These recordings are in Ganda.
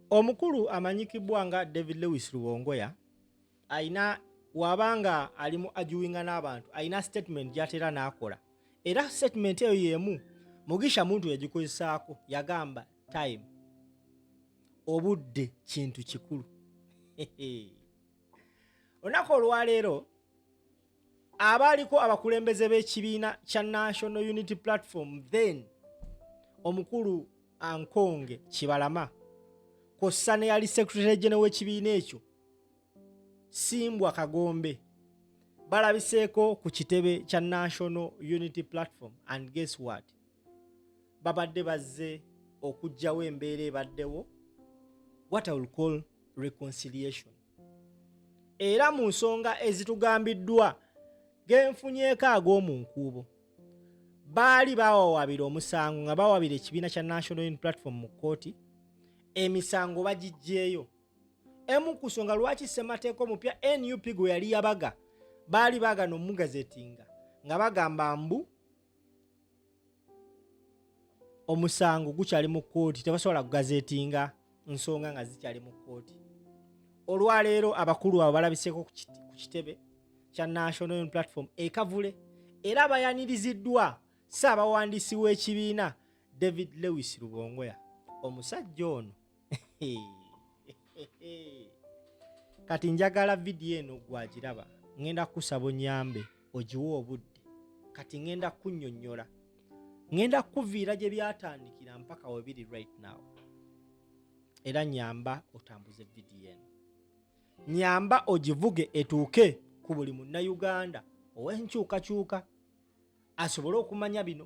omukulu amanyikibwa nga david lewis luwongoya alina waba nga ali mu ajuwinga n'abantu alina statement gyatera n'akola era statement eyo yemu mugisha muntu yagikozesaako yagamba time obudde kintu kikulu olunaku olwaleero abaaliko abakulembeze b'ekibiina kya national unity platform then omukulu ankonge kibalama kossa ne yali secretary gene w'ekibiina ekyo simbwa kagombe balabiseeko ku kitebe kya national unity platform and guess what babadde bazze okugjawo embeera ebaddewo what i will call reconciliation era mu nsonga ezitugambiddwa genfunyeeko ag'omu nkuubo baali bawawabira omusango nga bawabira ekibiina kya national un platform mu kkooti emisango bagiggyeyo emu ku nsonga lwaki ssemateeka omupya nup gwe yali yabaga baali baagana omugazetinga nga bagamba mbu omusango gukyali mu kkooti tebasobola kugazetinga nsonga nga zikyali mu kkooti olwaleero abakulu abo balabiseeko ku kitebe kya national platform ekavule era bayaniriziddwa ssaabawandiisi w'ekibiina david lewis lubongoya omusajja ono kati njagala vidiyo eno gwagiraba ŋenda kukusaba onyambe ogiwe obudde kati ŋenda kunyonyola ŋenda kukuviira gye byatandikira mpaka webiri right now era nyamba otambuze vidiyo eno nyamba ogivuge etuuke ku buli munnayuganda ow'enkyukakyuka asobole okumanya bino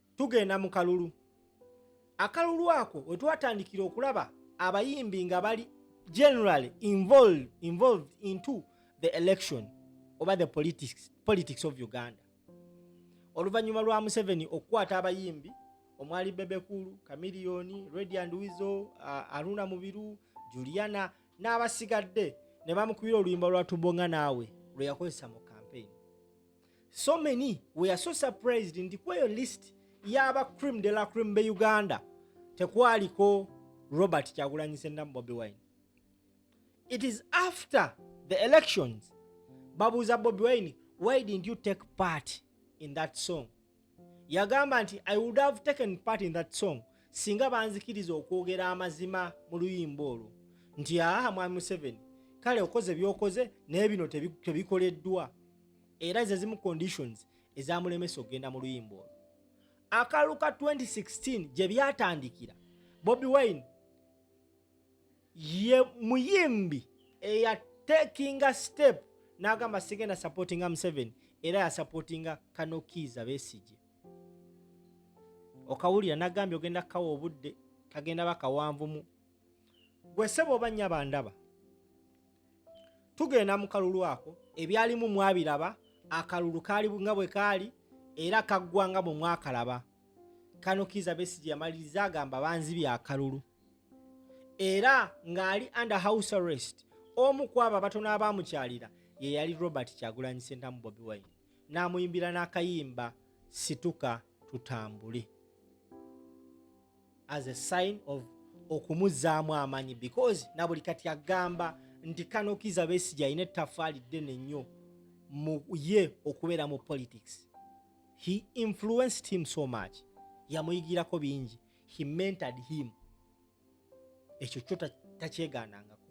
tugenda mu kalulu akalulu ako we twatandikira okulaba abayimbi nga bali generally involved, involved into the election oba the politics, politics of uganda oluvannyuma lwa museveni okukwata abayimbi omwali bebekulu kamiliyoni radiant wizo uh, aruna mubiru juliana n'abasigadde ne bamukubira oluyimba lwa tubonga naawe lwe yakozesa mu kampeyini so many we are so surprised nti kweyo list yaba cream de la cream be uganda tekwaliko robert kyagulanyi sendamu bobi wine it is after the elections babuuza bobi wine why didn't you take part in that song yagamba nti i would have taken part in that song singa banzikiriza okwogera amazima mu luyimba olwo nti aha mwami museveni kale okoze byokoze naye bino tebikoleddwa era zezimu conditions ezamulemesa okugenda mu luyimba olwo akalu ka 2016 gye byatandikira bobi wine ye muyimbi eya takinga step n'agamba sigenda supportinga museveni era yasupportinga kanokiiza besigye okawulira nagambye ogenda kukawa obudde kagenda bakawanvumu gwe sebo oba nnya bandaba tugenda mu kalulu ako ebyalimu mwabiraba akalulu kaali nga bwe kaali era kaggwanga bwe mwakalaba kano kiza besigi yamaliriza agamba banzibya akalulu era ng'ali under house arrest omu ku abo abatono abaamukyalira ye yali robert kyagulanyi sentamu bobi wine n'amuyimbira n'akayimba situka tutambule as a sign of okumuzzaamu amaanyi because na buli kati agamba nti kano kiza besigye alina ettafaali ddene nnyo mu ye okubeera mu politics he influenced him so much yamuyigirako bingi he mentored him ekyo kyo takyegaanangako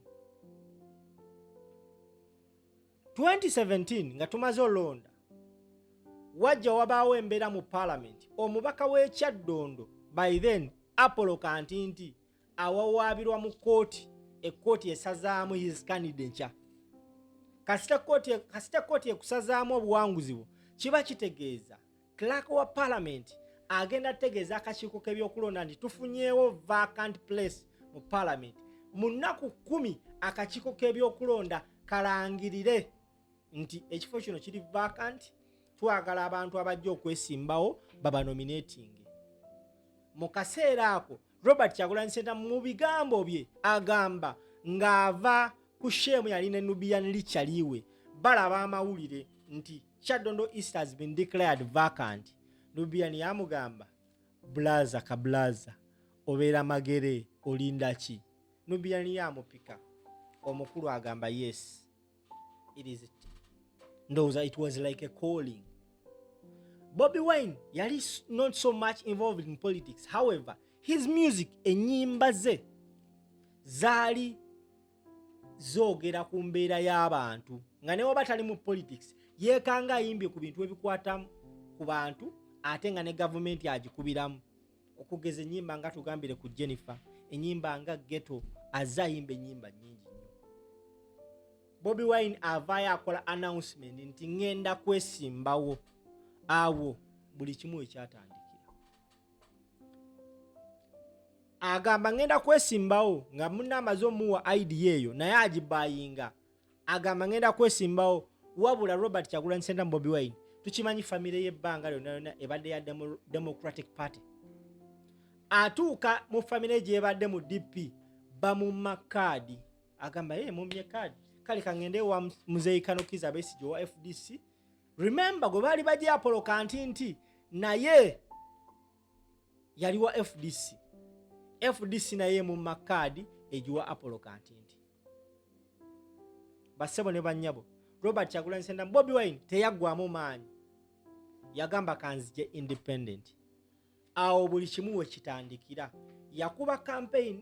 2017 nga tumaze olonda wajja wabaawo embeera mu paalamenti omubaka w'ekyaddondo by then apollo kantinti awawaabirwa mu kkooti ekkooti esazaamu his candidature kasita kkooti ekusazaamu obuwanguzi bwo kiba kitegeeza Clerk wa Parliament agenda tegeeza akakiiko k'ebyokulonda nti tufunyeewo vacant place mu Parliament. Mu nnaku kumi akakiiko k'ebyokulonda kalangirire nti ekifo kino kiri vacant, twagala abantu abajja okwesimbawo babanominatinge. Mu kaseera ako robert kyagulanyi senta mu bigambo bye agamba ng'ava ku sheemu yali ne nubian lichaliwe balaba amawulire nti kyadondo east has been declared vacant nubian yamugamba bulaza kabulaza obeera magere olindaki nubian yamupika omukulu agamba yes it is it ndowooza it was like a calling bobi wine yali not so much involved in politics however his music enyimba ze zaali zoogera ku mbeera y'abantu nga newaba tali mu politics yeekanga ayimbye ku bintu ebikwata ku bantu ate nga ne gavumenti agikubiramu okugeza enyimba nga tugambire ku jennifer enyimba nga geto aze ayimba enyimba nyingi nyo bobi wine avaayo akola announcement nti ŋenda kwesimbawo awo buli kimu ekyatandikira agamba ŋenda kwesimbawo nga muna amaze omuwa idea eyo naye agibayinga agamba ngenda kwesimbawo wabula robert kyagulanyi sentamu bobi wine tukimanyi famire y'ebbanga lyonna yonna ebadde ya democratic party atuuka mu famire gyebadde mu dp bamumma kaadi agamba ye mumye kaadi kale kangende wa muzeyi kanokiza abesigye owa fdc remember gwe baali bajye apolo kanti nti naye yali wa fdc fdc naye mumma kaadi egiwa apolo kanti nti bassebo ne bannyabo robert kyagulanyi sentamu bobi wine teyaggwamu maanyi yagamba kanzije independent awo buli kimu wekitandikira yakuba campaign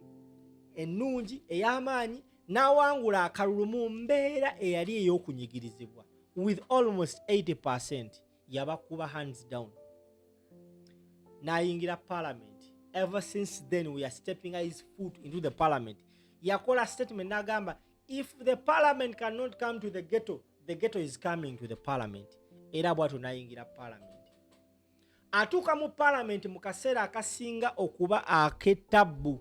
ennungi ey'amaanyi n'awangula akalulu mu mbeera eyali ey'okunyigirizibwa with almost 80 yabakuba hands down nayingira parliament ever since then we are stepping his foot into the parliament yakola statement nagamba if the parliament cannot come to the ghetto the ghetto is coming to the parliament era bwatyo nayingira parliament atuuka mu parliament mu kaseera akasinga okuba aketabbu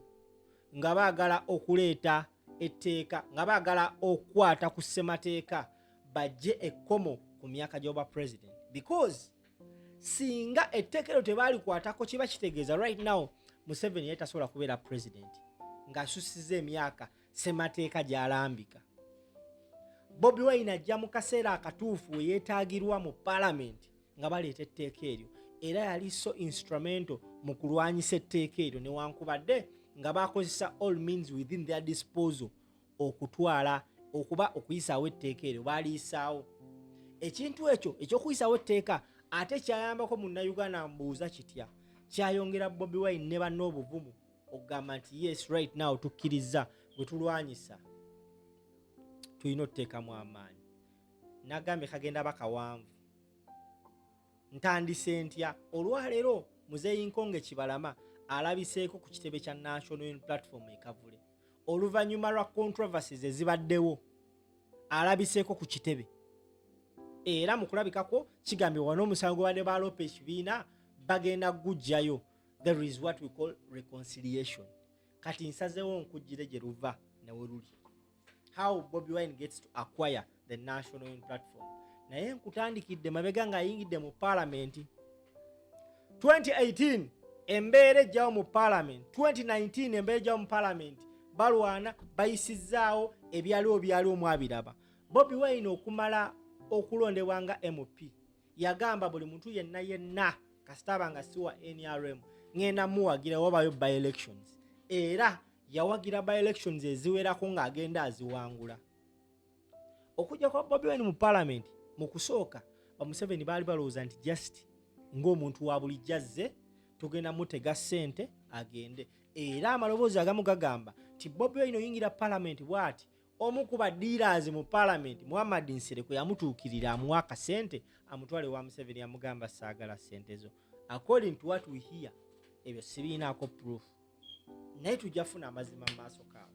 nga baagala okuleeta etteeka nga baagala okukwata ku ssemateeka bajje ekkomo ku myaka gy'obwa president because singa etteeka eryo tebaalikwatako kiba kitegeeza right now museveni yali tasobola kubeera president ng'asusiza emyaka ssemateeka gy'alambika bobi wine ajja mu kaseera akatuufu we yeetaagirwa mu palamenti nga baleeta etteeka eryo era yali so instrumento mu kulwanyisa etteeka eryo newankubadde nga bakozesa all means within their disposal okutwala okuba okuyisaawo etteeka eryo baaliyisaawo ekintu ekyo ekyokuyisaawo etteeka ate kyayambako munnayuganda mbuuza kitya kyayongera bobi wine ne banna obuvumu okugamba nti yes right now tukkiriza bwe tulwanyisa tulina otuteekamu amaanyi nagambye kagenda bakawanvu ntandise ntya olwaleero muzeeyi nkonge kibalama alabiseeko ku kitebe kya national un platform ekavule oluvannyuma lwa controversies ezibaddewo alabiseeko ku kitebe era mu kulabikako kigambibwa n'omusango gwebadde baloopa ekibiina bagenda gujjayo there is what we call reconciliation kati nsazeewo nkujjire gye luva newe luli how Bobby Wine gets to acquire the national in platform naye nkutandikidde mabega ng'ayingidde mu palamenti 2018 embeera ejjawo mu palamenti 2019 embeera ejjawo mu palamenti balwana bayisizzaawo ebyaliwo byaliwo mwabiraba bobi wine okumala okulondebwa nga mp yagamba buli muntu yenna yenna kasitaaba nga siwa nrm ŋenda muwagira wabayo by elections era yawagira by elections eziwerako ng'agenda aziwangula okujja kwa bobi wine mu palamenti mu kusooka bamuseveni baali balowooza nti just ng'omuntu wa bulijjo azze tugenda mutega ssente agende era amaloboozi agamu gagamba nti bobi wine oyingira palamenti bwati omu ku badiiraazi mu palamenti muhammad nsereko yamutuukirira amuwa akasente amutwale wa museveni yamugamba saagala sente zo according to what we hear ebyo sibiinaako proof naye tujja funa amazima mu maaso kaabo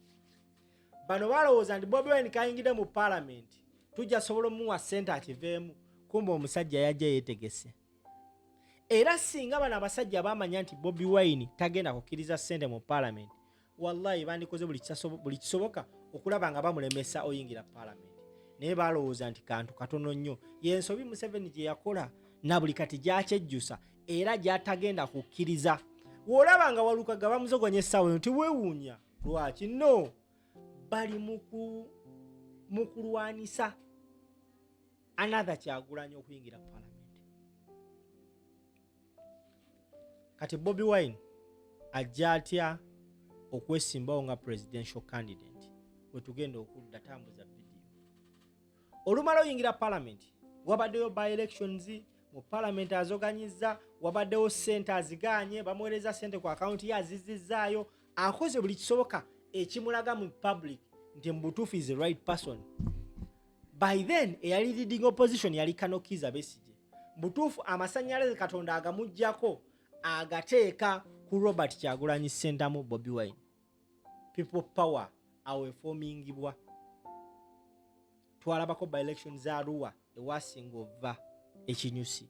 bano balowooza nti bobi wine kayingidde mu palamenti tujja sobola omuwa sente akiveemu kumba omusajja yajja yetegese era singa bano abasajja bamanya nti bobi wine tagenda kukkiriza sente mu palamenti wallahi bandikoze buli kisoboka okulaba nga bamulemesa oyingira palamenti naye balowooza nti kantu katono nnyo yensobi museveni gye yakola na buli kati gyakyejjusa era gyatagenda kukkiriza wolaba nga walukaga bamuzogonya essaawa eno tewewuunya lwaki no bali mu kulwanisa another kyagulanya okuyingira palamenti kati bobi wine ajja atya okwesimbawo nga presidential candidate wetugenda okudda tambuza vidiyo olumala oyingira palamenti wabaddeyo by elections mu palamenti azoganyizza wabaddewo sente azigaanye bamuweereza sente ku akawunti ye azizizzaayo akoze buli kisoboka ekimulaga mu public nti mubutuufu is the right person by then eyali leading opposition yali kanokiza besigye mubutuufu amasanyalaze katonda agamugjako agateeka ku robert kyagulanyi sentamu bobi wine people power awo efomingibwa twalabako by election za ruwa ewasinga ova ekinyusi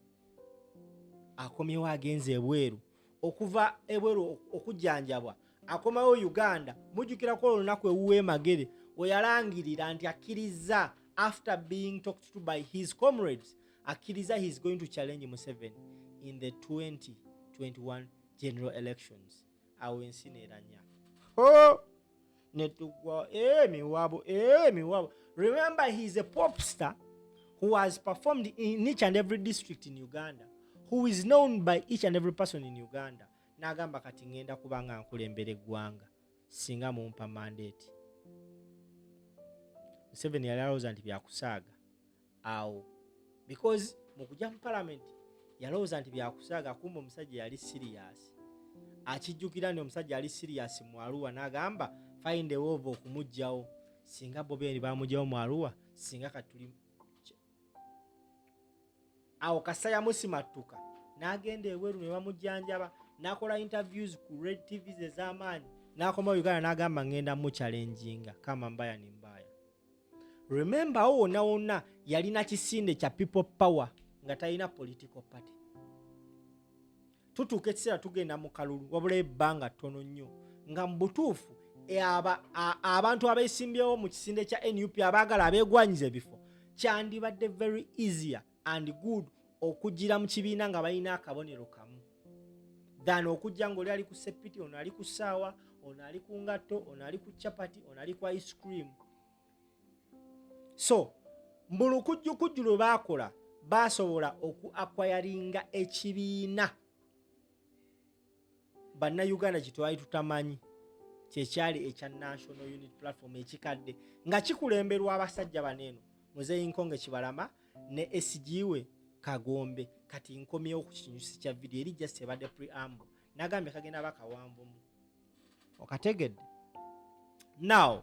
akomyewo agenze ebweru okuva ebweru okujanjabwa akomawo uganda mujukirako olunaku ewuwe magere weyalangirira nti akkiriza after being talked to by his comrades akkiriza he is going to challenge museven in the 2021 general elections awo ensi neranya oh! netugwa emiwabo eh, emiwabo eh, remember he is a pop star who has performed in each and every district in uganda who is known by each and every person in uganda nagamba kati ngenda kuba nga nkulembera eggwanga singa mumpa mandate museveni yali alowooza nti byakusaaga awo because mu kujja mu palamenti yalowooza nti byakusaaga kumba omusajja yali siriyasi akijjukira nti omusajja yali siriyasi mu aluwa n'agamba find a wova okumugjawo singa bobendi bamugjawo mu aluwa singa katuli awo kasa yamusimattuka n'agenda ebweru ne bamujjanjaba n'akola interviews ku red tvs ez'amaanyi n'akoma uganda n'agamba ngenda mukyalenjinga kama mbaya ni mbaya remember awo wonna wonna yalina kisinde kya people power nga talina political party tutuuka ekiseera tugenda mu kalulu wabula ebbanga ttono nnyo nga mu butuufu e, abantu abesimbyewo mu kisinde kya nup abaagala abeegwanyiza ebifo kyandibadde very easier and good okujjira mu kibiina nga balina akabonero kamu than okujja ngaoli ali ku sepiti ono ali ku ssaawa ono ali ku ngatto ono ali ku chapati ono ali ku ice cream so mbulu kujjukujju lwe baakola baasobola oku akwayaringa ekibiina bannayuganda kye twali tutamanyi kyekyali ekya national unit platform ekikadde nga kikulemberwa abasajja bano eno muzeyi nkonge kibalama ne esigiwe kagombe kati nkomyewo ku kinyusi kya vidiyo eri just ebadde preamble nagambye kagenda bakawanvumu okategedde now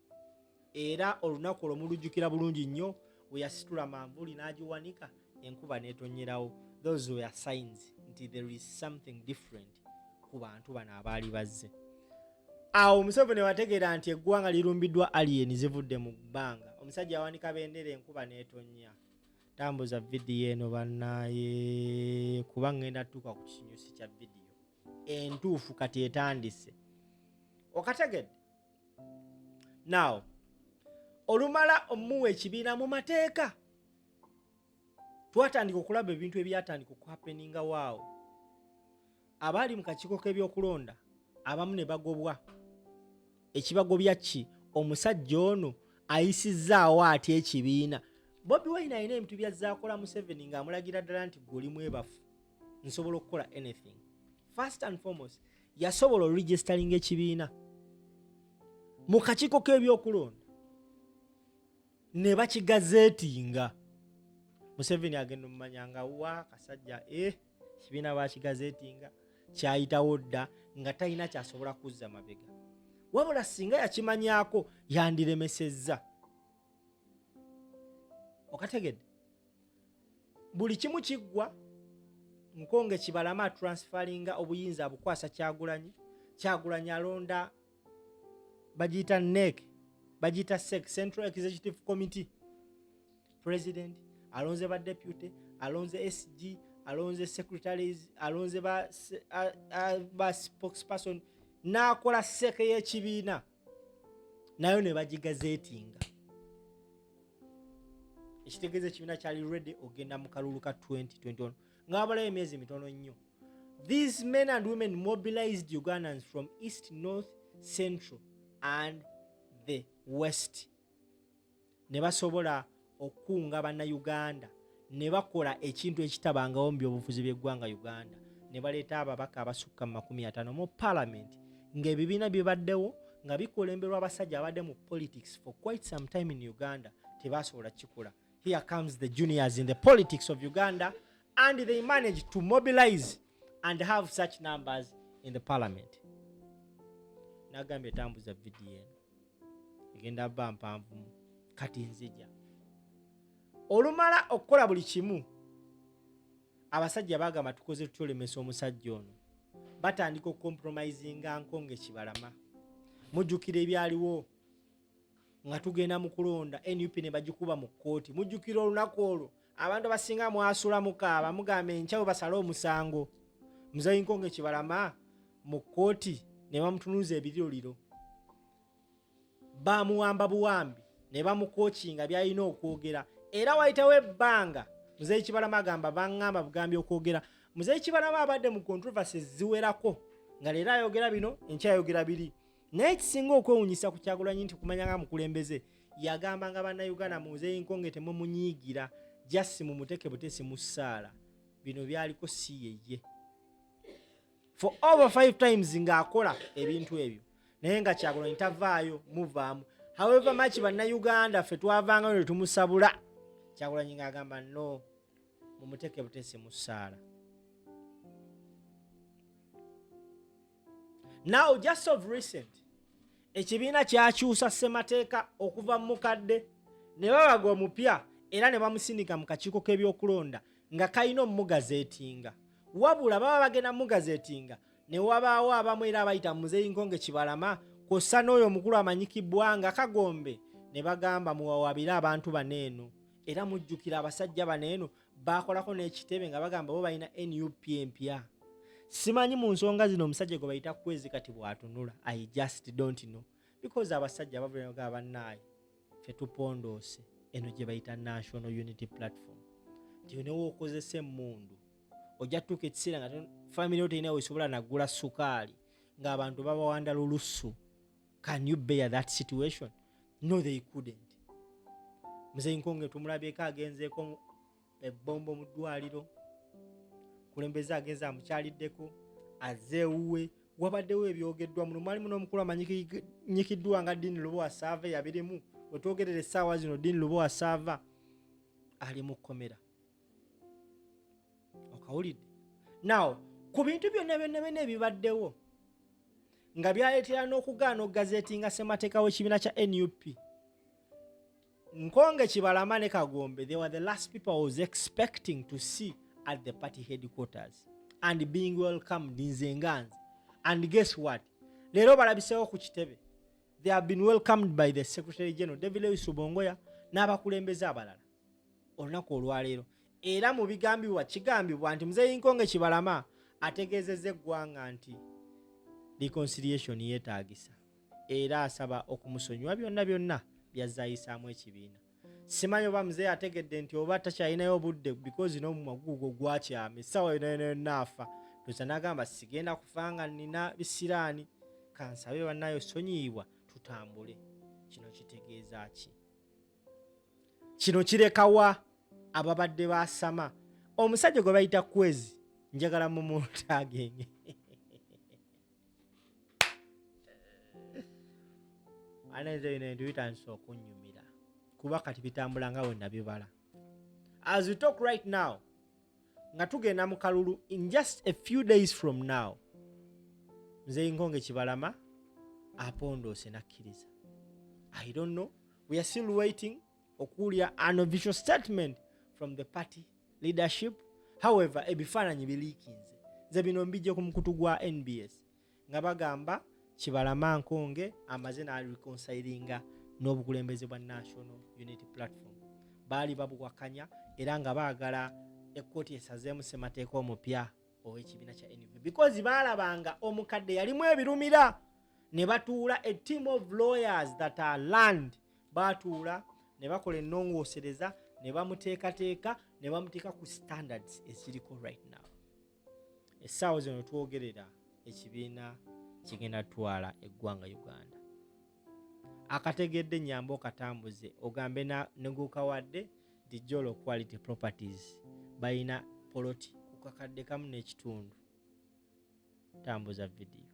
era olunaku olwo mulujjukira bulungi nnyo we yasitula manvuli n'agiwanika enkuba n'etonyerawo those were signs nti there is something different ku bantu bano abaali bazze awo museveni wategeera nti eggwanga lirumbiddwa aliyeni zivudde mu bbanga omusajja awanika bendera enkuba n'etonya tambuza vidiyo eno banaye kuba ngenda tuuka ku kinyusi kya vidiyo entuufu kati etandise okategedde now olumala omuwa ekibiina mu mateeka twatandika okulaba ebintu ebyatandika okuhapeninga waawo abaali mu kakiiko k'ebyokulonda abamu ne bagobwa ekibagobya ki omusajja ono ayisizzaawo ati ekibiina bobi wine alina ebintu byazaakola museveni ng'amulagira ddala nti gwe oli mwebafu nsobola okukola anything first and foremost yasobola oregisteringa ekibiina mu kakiiko k'ebyokulonda ne bakigazeetinga museveni agenda omumanya nga wa kasajja e eh, kibiina bakigazeetinga kyayitawo dda nga talina kyasobola kuzza mabega wabula singa yakimanyako yandiremesezza okategedde buli kimu kiggwa nkonge kibalama atransfalinga obuyinza abukwasa kyagulanyi kyagulanyi alonda bagiyita nek bagiyita sec central executive committee president alonze ba deputy alonze sg alonze secretaries alonze ba, ba spokesperson n'akola seke y'ekibiina nayo ne bagigazeetinga ekitegeeza ekibiina kyali ready ogenda mu kalulu ka 2021 ng'abalayo emyezi mitono nnyo these men and women mobilized ugandans from east north central and the west ne basobola okukunga bannayuganda ne bakola ekintu ekitabangawo mu byobufuzi by'eggwanga uganda ne baleeta ababaka abasukka mu makumi ataano mu palamenti ng'ebibiina bibaddewo nga bikulemberwa abasajja abadde mu politics for quite some time in uganda tebasobola kikola here comes the juniors in the politics of uganda and they manage to mobilize and have such numbers in the parliament nagambye tambuza vidiyo eno egenda ba mpanvumu kati nzija olumala okukola buli kimu abasajja bagamba tukoze tutya olemesa omusajja ono batandika okukompromisinga nko ngaekibalama mujjukira ebyaliwo nga tugenda mu kulonda nup ne bagikuba mu kkooti mujjukira olunaku olwo abantu abasinga mwasula mukaaba mugamba enkyawe basale omusango muzayinkonge kibalama mu kkooti ne bamutunuza ebiriroliro bamuwamba buwambi ne bamukokinga byalina okwogera era wayitawo ebbanga muzeyi kibalama agamba baŋŋamba bugambi okwogera muzeyi kibalama abadde mu controversy ziwerako nga leero ayogera bino enkyayogera biri naye ekisinga okwewunyisa ku kyagulanyi nti kumanya nga mukulembeze yagamba nga bannayuganda munzeyinkonge temumunyiigira jasi mumuteke butesi mu ssaala bino byaliko si yeye for over five times ng'akola ebintu ebyo naye nga kyagulanyi tavaayo muvaamu however much bannayuganda ffe twavangayo ne tumusabula kyagulanyi ng'agamba no mumuteke butesi mu ssaala now just of recent ekibiina kyakyusa ssemateeka okuva mu mukadde ne babaga omupya era ne bamusindika mu kakiiko k'ebyokulonda nga kalina omugazeetinga wabula baba bagenda mugazeetinga ne wabaawo abamu era abayita muzeeyi nkonge kibalama kwossa n'oyo omukulu amanyikibwa nga kagombe ne bagamba muwawabire abantu bano eno era mujjukira abasajja bano eno baakolako n'ekitebe nga bagamba bo balina nup empya simanyi mu nsonga zino omusajja gwe bayita kwezi kati bw'atunula i just don't know because abasajja bavulaga bannaayi fe tupondoose eno gye bayita national unity platform nti newookozesa emmundu ojja tutuuka ekiseera nga famire yo terina wesobola nagula sukaali ng'abantu babawanda lulussu can you bear that situation no they couldn't muzeyi nkonge tumulabyeko agenzeeko ebombo mu ddwaliro kulembeze agenze amukyaliddeko azeewuwe wabaddewo ebyogeddwa muno mwalimu n'omukulu amanyikiddwa nga dini lubowa saava yabirimu wetwogerera essaawa zino dini lubowa saava ali mu kkomera okawulidde nawo ku bintu byonna byonna byonna ebibaddewo nga byaleetera n'okugaana okugazeetinga ssemateeka w'ekibiina kya nup nkonge kibalama ne kagombe they were the last people i was expecting to see at the party headquarters and being welcomed nze nganze and guess what leero balabiseewo ku kitebe they have been welcomed by the secretary general david lewis ubongoya n'abakulembeze abalala olunaku olwaleero era mu bigambibwa kigambibwa nti muzeeyi nkonge kibalama ategeezezza eggwanga nti reconciliation yeetaagisa era asaba okumusonyiwa byonna byonna byazze ayisaamu ekibiina simanyi oba muzeeyi ategedde nti oba takyalinayo obudde bikozi n'omumwa guugo gwakyama essaawa yonayonayonna afa toza nagamba sigenda kufa nga nina bisiraani kansabe bannayo sonyiibwa tutambule kino kitegeeza ki kino kirekawa ababadde basama omusajja gwe bayita kwezi njagala mumuntagenge anenze bino bintu bitandise okunyumira kuba kati bitambula nga wenabibala as we talk right now nga tugenda mu kalulu in just a few days from now nze nkonge kibalama apondoose nakkiriza i don't know we are still waiting okuwulira an official statement from the party leadership however ebifaananyi biliikinze nze bino mbijje ku mukutu gwa nbs nga bagamba kibalama nkonge amaze nareconsilinga n'obukulembeze bwa national unity platform baali babuwakanya era nga baagala ekkooti esazeemu ssemateeka omupya ow'ekibiina kya nup because baalabanga omukadde yalimu ebirumira ne batuula a team of lawyers that are land baatuula ne bakola ennongoosereza ne bamuteekateeka ne bamuteeka ku standards eziriko right now essaawa zino twogerera ekibiina kigenda twala eggwanga uganda akategedde nyamba okatambuze ogambe negukawadde nti jolo quality properties balina poloti kukakadde kamu n'ekitundu tambuza vidiyo